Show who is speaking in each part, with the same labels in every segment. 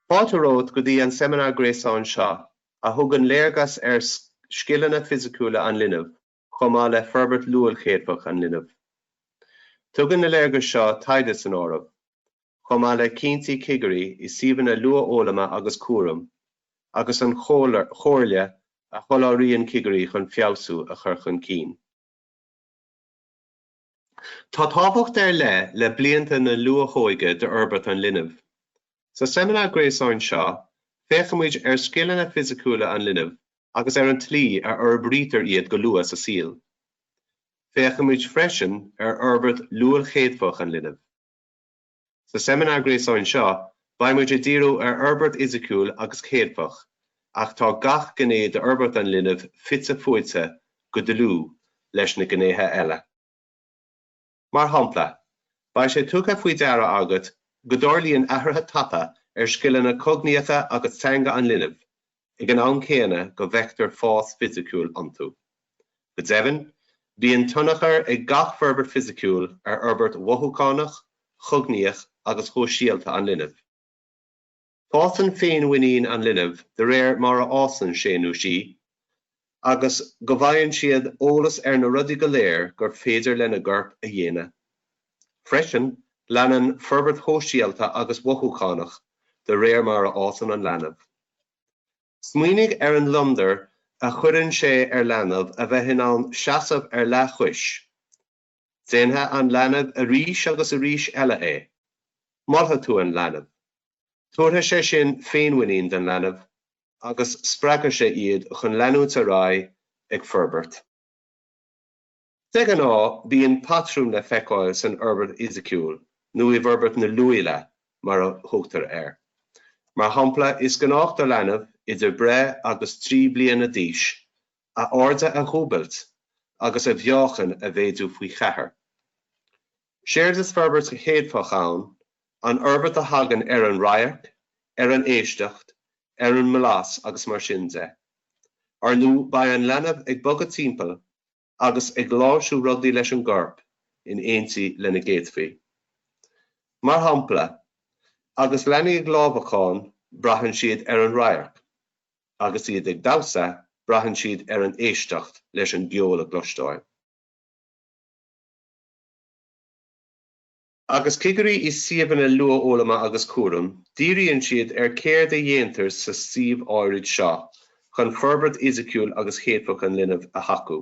Speaker 1: Fáilte romhat go dtí an seimineár gréasáin seo, a thugann léargas ar scileanna fisiciúla an linbh. chomh maith le forbairt luailchéadfach an linbh. Tugann na léargais seo taighde san áireamh, chomh maith le cinntí cigirí i suíomhanna luathfhoghlama agus cúraim, agus an chomhairle a sholáthraíonn cigirí chun feabhsú a chur chun cinn. Tá tábhacht ar leith le blianta na luathóige d'fhorbairt an linbh. Sa seimineár gréasáin seo, féachfaimid ar scileanna fisiciúla an linbh agus ar an tslí a fhorbraítear iad go luath sa saol. Féachfaimid freisin ar fhorbairt luailchéadfach an linbh. Sa seimineár gréasáin seo, beidh muid ag díriú ar fhorbairt fhisiciúil agus chéadfach, ach tá gach gné d'fhorbairt an linbh fite fuaite go dlúth leis na gnéithe eile. Mar shampla, beidh sé tugtha faoi deara agat go dtarlaíonn athruithe tapa ar scileanna cognaíocha agus teanga an linbh ag an am céanna go bhfeictear fás fisiciúil iontu. Go deimhin, bíonn tionchar ag gach forbairt fisiciúil ar fhorbairt mhothúchánach, chognaíoch agus shóisialta an linbh. Fásann féinmhuinín an linbh de réir mar a fhásann sé nó sí, agus go bhfaigheann siad eolas ar na rudaí go léir gur féidir lena gcorp a dhéanamh. Freisin, leanann forbairt shóisialta agus mhothúchánach de réir mar a fhásann an leanbh. Smaoinigh ar an ngliondar a chuireann sé ar leanbh a bheith in ann seasamh ar leathchois, Déanfaidh an leanbh arís agus arís eile é. Molfaidh tú an leanbh. Tabharfaidh sé sin féinmhuinín don leanbh agus spreagfaidh sé iad chun leanúint ar aghaidh ag forbairt. De ghnáth, bíonn patrún le feiceáil san fhorbairt fhisiciúil nó i bhforbairt na luaile mar a thugtar air. Mar shampla, is gnách do leanbh idir breith agus trí bliana d'aois a airde a dhúbailt agus a mheáchan a mhéadú faoi cheathair.. Séard is forbairt chéadfach ann an fhorbairt a thagann ar an radharc, ar an éisteacht, ar an mblas agus mar sin de. Ar ndóigh beidh an leanbh ag bogadh timpeall agus ag láimhsiú rudaí leis an gcorp in éindí lena gcéadfaí. Mar shampla, agus leanaí ag lámhacán braitheann siad ar an radharc. Agus iad ag damhsa, braitheann siad ar an éisteacht leis an gceol a chloisteáil. Agus cigirí i suíomhanna luathfhoghlama agus cúraim, díríonn siad ar céard a dhéantar sa suíomh áirid seo chun forbairt fhisiciúil agus chéadfach an linbh a thacú.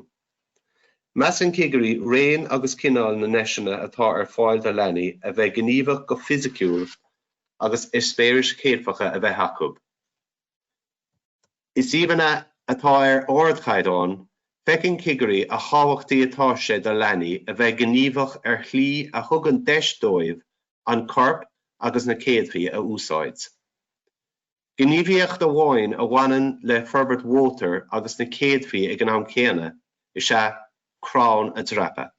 Speaker 1: Measann cigirí raon agus cineál na ndeiseanna atá ar fáil do leanaí a bheith gníomhach go fisiciúil agus eispéiris chéadfacha a bheith acu. I suíomhanna atá ar ardchaighdeán, feiceann cigirí a thábhachtaí atá sé do leanaí a bheith gníomhach ar shlí a thugann deis dóibh an corp agus na céadfaí a úsáid. Gníomhaíocht amháin a bhaineann le forbairt mhótair agus na céadfaí ag an am céanna is ea crann a dreapadh.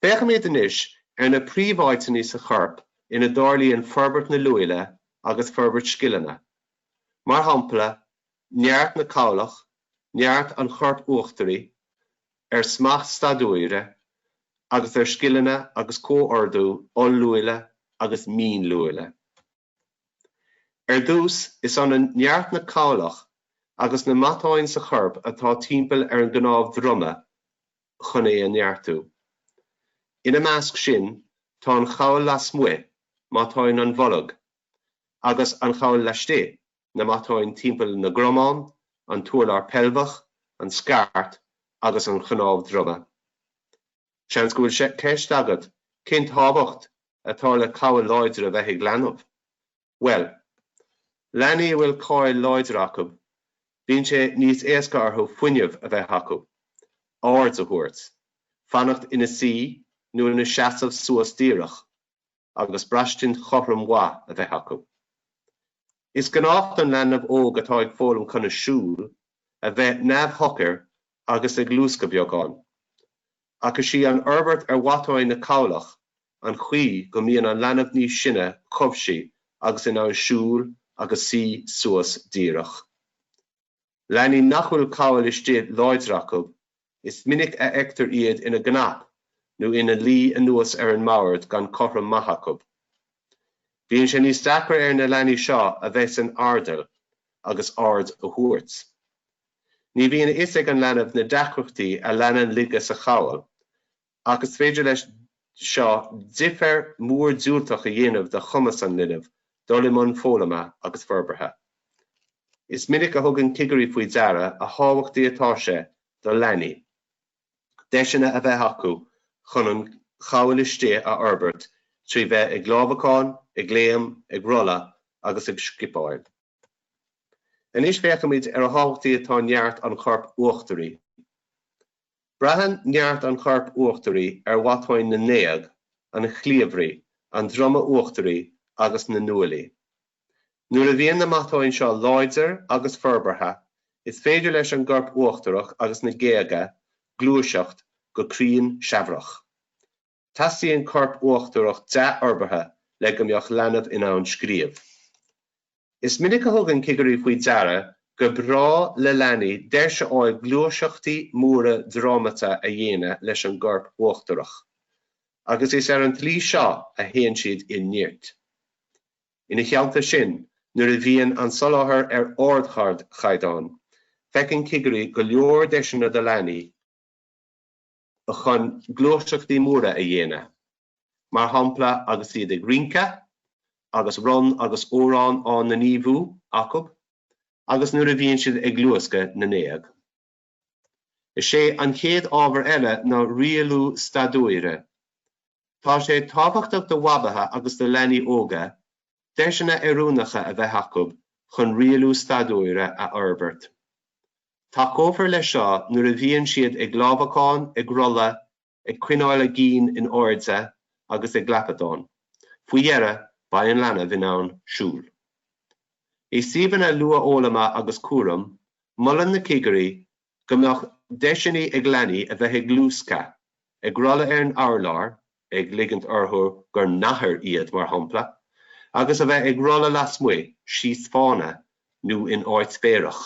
Speaker 1: Féachaimid anois ar na príomháiteanna sa chorp ina dtarlaíonn forbairt na luaile agus forbairt scileanna, mar shampla neart na cabhlach, neart an choirp uachtaraigh, ar smacht staidiúire agus ar scileanna agus comhordú oll-luaile agus mín-luaile. Ar dtús, is ionann neart na cabhlach agus na matáin sa chorp atá timpeall ar an gcnámh droma chun é a neartú. Ina measc sin, tá an chabhail lasmuigh, matáin an bhoilg, agus an chabhail laistigh, na matáin timpeall na gcromán, an t-urlár peilbheach, an scairt, agus an chnámh droma. Seans go bhfuil sé ceist agat, cén tábhacht atá le cabhail láidir a bheith ag leanbh? Bhuel, leanaí a bhfuil cabhail láidir acu, bíonn sé níos éasca orthu fuinneamh a bheith acu, aird a thabhairt, fanacht ina suí nó ina seasamh suas díreach, agus braistint chothrom mhaith a bheith acu. Is gnách don leanbh óg atá ag foghlaim conas siúl a bheith neamhshocair agus ag luascadh beagán, ach is í an fhorbairt ar mhatáin na cabhlach an chaoi go mbíonn an leanbh níos sine chomh cobhsaí agus in ann siúl agus suí suas díreach. Leanaí nach bhfuil cabhail istigh láidir acu, is minic a fheictear iad ina gcnap nó ina luí anuas ar an mbord gan cothrom maith acu. Bíonn sé níos deacra ar na leanaí seo a bheith san airdeall agus aird a thabhairt. Ní bhíonn a fhios ag an leanbh na deacrachtaí a leanann laige sa chabhail ach is féidir leis seo difear mór diúltach a dhéanamh do chumas an linbh dul i mbun foghlama agus forbartha. Is minic a thugann cigirí faoi deara a thábhachtaí atá sé do leanaí deiseanna a bheith acu chun an chabhail istigh a fhorbairt trí bheith ag lámhacán, ag léim, ag rolladh agus ag scipeáil. Anois féachfaimid ar a thábhachtaí atá neart an choirp uachtaraigh. Braitheann neart an choirp uachtaraigh ar mhatáin na ngéag, an chliabhraigh, an droma uachtaraigh agus na nguaillí. Nuair a bhíonn na matáin seo láidir agus forbartha, is féidir leis an gcorp uachtarach agus na géaga gluaiseacht go cruinn seamhrach. Teastaíonn corp uachtarach dea-fhorbartha le go mbeadh leanbh in ann scríobh. Is minic a thugann cigirí faoi deara gur breá le leanaí deis a fháil gluaiseachtaí móra drámata a dhéanamh leis an gcorp uachtarach, agus is ar an tslí seo a théann siad i neart. Ina theannta sin, nuair a bhíonn an soláthar ar ardchaighdeán, feiceann cigirí go leor deiseanna do leanaí, chun gluaiseachtaí móra a dhéanamh, mar shampla agus iad ag rince, agus rann agus amhrán á ngníomhú acu, agus nuair a bhíonn siad ag luascadh na ngéag. Is é an chéad ábhar eile ná rialú staidiúire. Tá sé tábhachtach do bhabaithe agus do leanaí óga deiseanna oiriúnacha a bheith acu chun rialú staidiúire a fhorbairt. Tacófar leis seo nuair a bhíonn siad ag lámhacán, ag rolladh, ag coinneáil a gcinn in airde agus ag lapadán. Faoi dheireadh, beidh an leanbh in ann siúl. I suíomhanna luathfhoghlama agus cúraim, molann na cigirí go mbeadh deiseanna ag leanaí a bheith ag luascadh, ag rolladh ar an urlár, ag ligint orthu gur nathair iad, mar shampla, agus a bheith ag rolladh lasmuigh, síos fána, nó in áit féarach.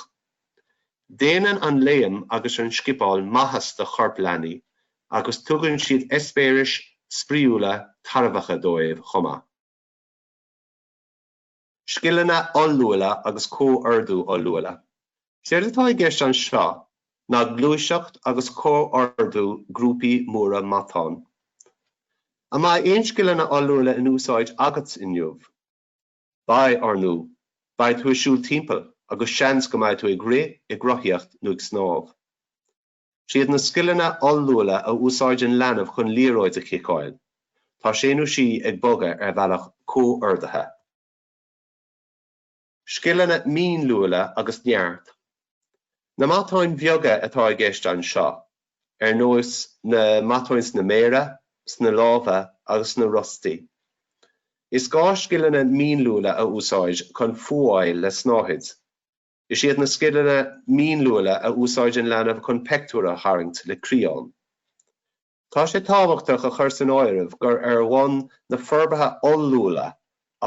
Speaker 1: Déanann an léim agus an scipeáil maitheas do choirp leanaí agus tugann siad eispéiris spraíúla tairbheacha dóibh chomh maith. scileanna oll-luaile agus comhordú oll-luaile. Séard atá i gceist anseo ná gluaiseacht agus comhordú grúpaí móra matán. An mbeidh aon scileanna oll-luaile in úsáid agat inniu? Beidh, ar ndóigh! Beidh tú ag siúl timpeall agus seans go mbeidh tú ag rith, ag rothaíocht nó ag snámh. Is iad na scileanna oll-luaile a úsáideann leanbh chun liathróid a chiceáil, tá sé nó sí ag bogadh ar bhealach comhordaithe. Scileanna mínluaile agus neart. Na matáin bheaga atá i gceist anseo, ar nós na matáin sna méara, sna lámha agus sna rostaí. Is gá scileanna mínluaile a úsáid chun fuáil le snáthaid. Is iad na scileanna mínluaile a úsáideann leanbh chun peictiúr a tharraingt le crián. Tá sé tábhachtach a chur san áireamh gur ar bhonn na forbartha oll-luaile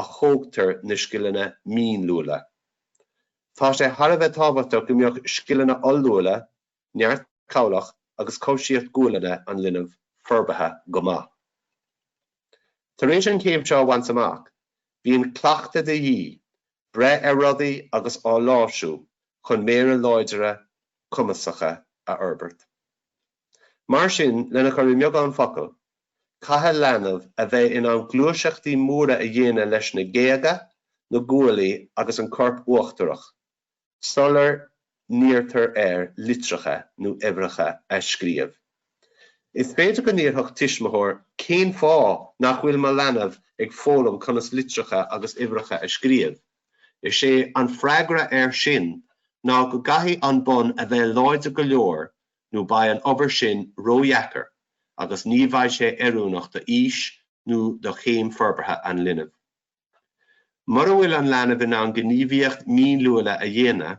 Speaker 1: a thógtar na scileanna mínluaile. Tá sé thar a bheith tábhachtach go mbeadh scileanna oll-luaile neart cabhlach agus cobhsaíocht gualainne an linbh forbartha go maith. Tar éis an chéim seo a bhaint amach, bíonn cleachtadh de dhíth, breith ar rudaí agus á láimhsiú chun méara láidire cumasacha a fhorbairt. Mar sin, lena chur i mbeagán focal, caithfidh leanbh a bheith in ann gluaiseachtaí móra a dhéanamh leis na géaga, na guaillí agus an corp uachtarach, sular n-iarrtar air litreacha nó uimhreacha a scríobh. Is féidir go n-iarrfadh tuismitheoir 'Cén fáth nach bhfuil mo leanbh ag foghlaim conas litreacha agus uimhreacha a scríobh? Is é an freagra air sin ná go gcaithfidh an bonn a bheith láidir go leor nó beidh an obair sin ródheacair agus ní bheidh sé oiriúnach d'aois nó do chéim forbartha an linbh. Mura bhfuil an leanbh in ann gníomhaíocht mhínluaile a dhéanamh,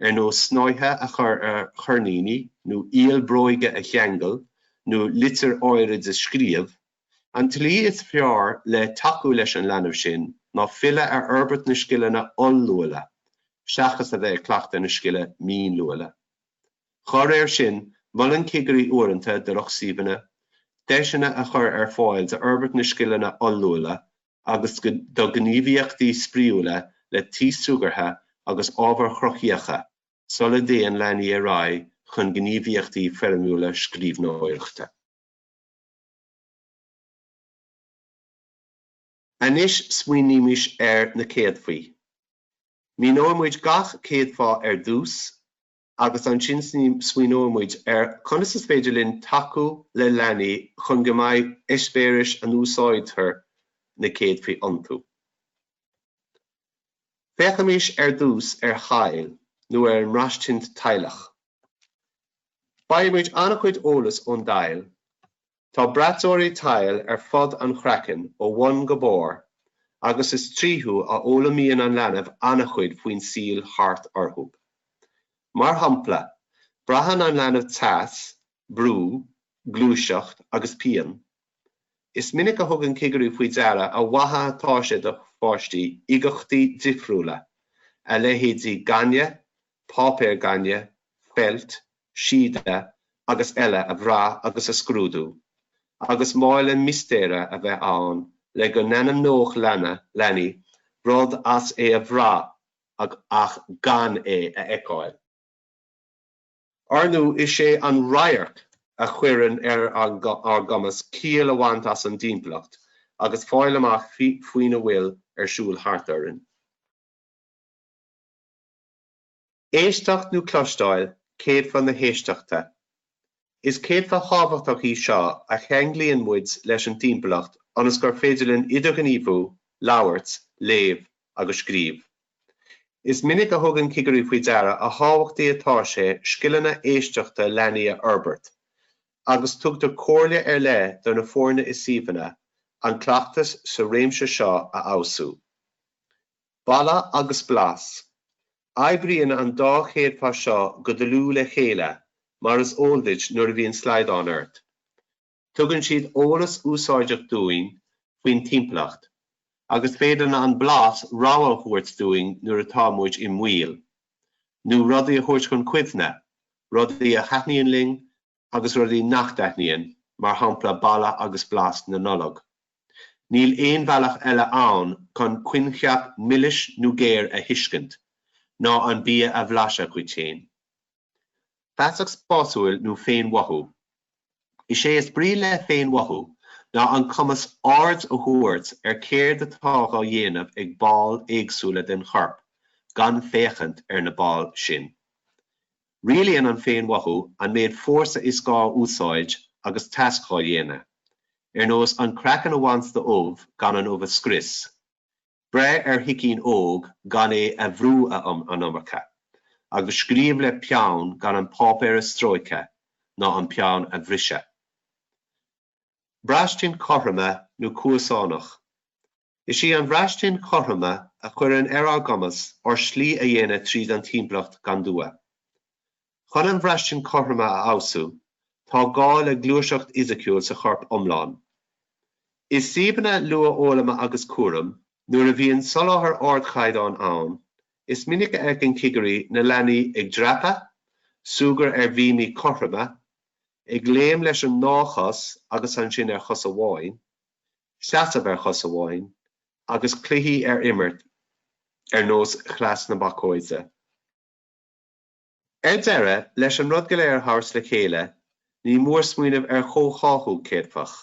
Speaker 1: ar nós snáithe a chur ar choirníní nó iall bróige a cheangal nó litir áirid a scríobh, an tslí is fearr le tacú leis an leanbh sin ná filleadh ar fhorbairt na scileanna oll-luaile seachas a bheith ag cleachtadh na scile mínluaile. Dá réir sin, molann cigirí uaireanta do lucht suíomhanna deiseanna a chur ar fáil d'fhorbairt na scileanna oll-luaile agus do ghníomhaíochtaí spraíúla le taos súgartha agus ábhair chruthaitheacha sula dtéann leanaí ar aghaidh chun gníomhaíochtaí foirmiúla scríbhneoireachta. Anois smaoinímis ar na céadfaí. Míneoidh muid gach céadfa ar dtús, agus ansin smaoineoidh muid ar conas is féidir linn tacú le leanaí chun go mbeidh eispéiris a n-úsáidtear na céadfaí iontu. Féachaimís ar dtús ar thadhall nó ar an mbraistint tadhlach. Bailímid an-chuid eolas ón dtadhall Tá braiteoirí tadhaill ar fud an chraicinn ó bhun go barr agus is tríothu a fhoghlaimíonn an leanbh an-chuid faoin saol thart orthu. Mar shampla, braitheann an leanbh teas, brú, gluaiseacht agus pian. Is minic a thugann cigirí faoi deara a mhaith atá sé do pháistí uigeachtaí difriúla, a leithéidí gaineamh, páipéar gainimh, feilt, síoda agus eile a bhrath agus a scrúdú, agus mála mistéire a bheith ann le go n-ainmneodh leanaí rud as é a bhrath ach gan é a fheiceáil. Ar ndú, is é an radharc a chuireann ar ár gcumas ciall a bhaint as an dtimpeallacht agus a fháil amach faoina bhfuil ar siúl thart orainn. Éisteacht nó Cloisteáil, Céadfa na hÉisteachta. Is céadfa thábhachtach í seo a cheanglaíonn muid leis an timpeallacht ionas gur féidir linn idirghníomhú, labhairt, léamh agus scríobh. Is minic a thugann cigirí faoi deara a thábhachtaí atá sé scileanna éisteachta leanaí a fhorbairt, agus tugtar comhairle ar leith do na foirne i suíomhanna an cleachtas sa réimse seo a fheabhsú. Boladh agus blas. Oibríonn an dá chéadfa seo go dlúth le chéile, mar is eol duit nuair a bhíonn slaghdán ort. Tugann siad eolas úsáideach dúinn faoin timpeallacht, agus féadann an blas rabhadh a thabhairt dúinn nuair atá muid i mbaol, nó rudaí a thabhairt chun cuimhne, rudaí a thaitníonn linn agus rudaí nach dtaitníonn, mar shampla boladh agus blas na Nollag. Níl aon bhealach eile ann chun coincheap milis nó géar a thuiscint, ná an bia a bhlaiseadh dhuit féin. Feasacht spásúil nó féinmhothú? Is é is brí le féinmhothú ná an cumas aird a thabhairt ar céard atá dhá dhéanamh ag baill éagsúla den chorp gan féachaint ar na baill sin. Rialaíonn an féinmhothú an méid fórsa is gá a úsáid agus tasc dhá dhéanamh, ar nós an craiceann a bhaint de ubh gan an ubh a scrios, breith ar shicín óg gan é a bhrú an iomarca, agus scríobh le peann gan an páipéar a stróiceadh ná an peann a bhriseadh. braistint chothroime nó cuasánach. Is í an bhraistint chothroime a chuireann ar ár gcumas ár slí a dhéanamh tríd an timpeallacht gan dua. Chun an bhraistint chothroime a fheabhsú, tá gá le gluaiseacht fhisiciúil sa chorp iomlán. I suíomhanna luathfhoghlama agus cúraim, nuair a bhíonn soláthar ardchaighdeáin ann, is minic a fheiceann cigirí na leanaí ag dreapadh, súgradh ar bhíomaí cothroime, ag léim leis an ndá chos agus ansin ar chos amháin, seasamh ar chos amháin, agus cluichí a imirt ar nós chleas na bacóide. Ar deireadh, leis an rud go léir a thabhairt le chéile, ní mór smaoineamh ar chomhtháthú céadfach.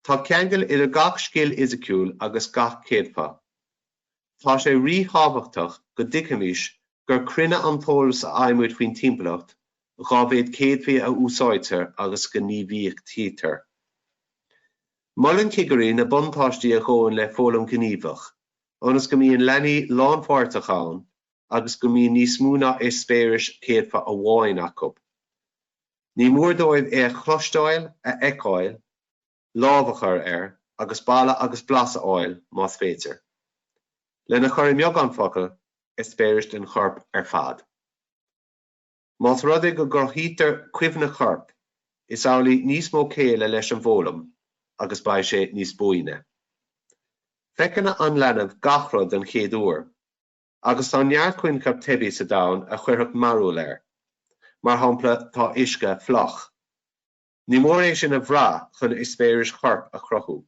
Speaker 1: Tá ceangal idir gach scil fhisiciúil agus gach céadfa. Tá sé ríthábhachtach go dtuigfimis gur cruinne an t-eolas a fhaighimid faoin timpeallacht dá mhéad céadfaí a úsáidtear agus a ghníomhaíochtaítear. Molann cigirí na buntáistí a ghabhann le foghlaim ghníomhach, ionas go mbíonn leanaí lánpháirteach ann agus go mbíonn níos mó ná eispéiris céadfa amháin acu. Ní mór dóibh é a chloisteáil, a fheiceáil, lámh a chur air, agus baladh agus blas a fháil, más féidir. Lena chur i mbeagán focal, eispéiris den chorp ar fad. Más rud é go gcruthaítear cuimhne choirp, is amhlaidh níos mó céille leis an bhfoghlaim, agus beidh sé níos buaine. Feiceann an leanbh gach rud don chéad uair. agus tá neart coincheap teibí sa domhan a chuirfeadh mearbhall air. Mar shampla, tá uisce fliuch. Ní mór é sin a bhrath chun eispéiris choirp a chruthú.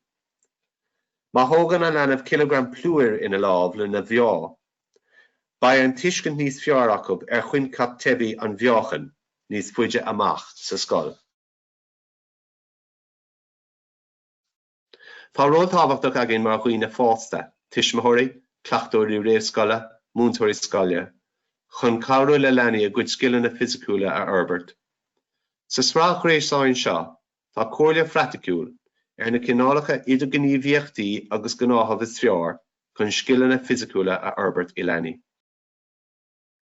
Speaker 1: Má thógann an leanbh cileagram plúir ina lámh lena mheá, beidh tuiscint níos fearr acu ar choincheap teibí an mheáchain níos faide amach sa scoil. Tá ról tábhachtach againn mar dhaoine fásta, tuismitheoirí, cleachtóirí réamhscoile, múinteoirí scoile, chun cabhrú le leanaí a gcuid scileanna fisiciúla a fhorbairt. Sa sraith ghréasáin seo tá comhairle phraiticiúil ar na cineálacha idirghníomhaíochtaí agus gnáthamh is fearr chun scileanna fisiciúla a fhorbairt i leanaí.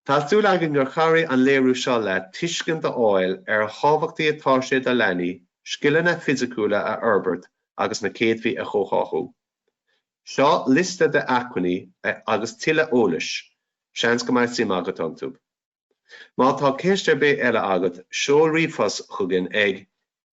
Speaker 1: Tá súil againn gur chabhraigh an léiriú seo leat tuiscint a fháil ar a thábhachtaí atá sé do leanaí scileanna fisiciúla a fhorbairt agus na céadfaí a chomhtháthú. Seo liosta d'acmhainní agus tuilleadh eolais, seans go mbeidh suim agat iontu. Má tá ceist ar bith eile agat, seol ríomhphost chugainn ag.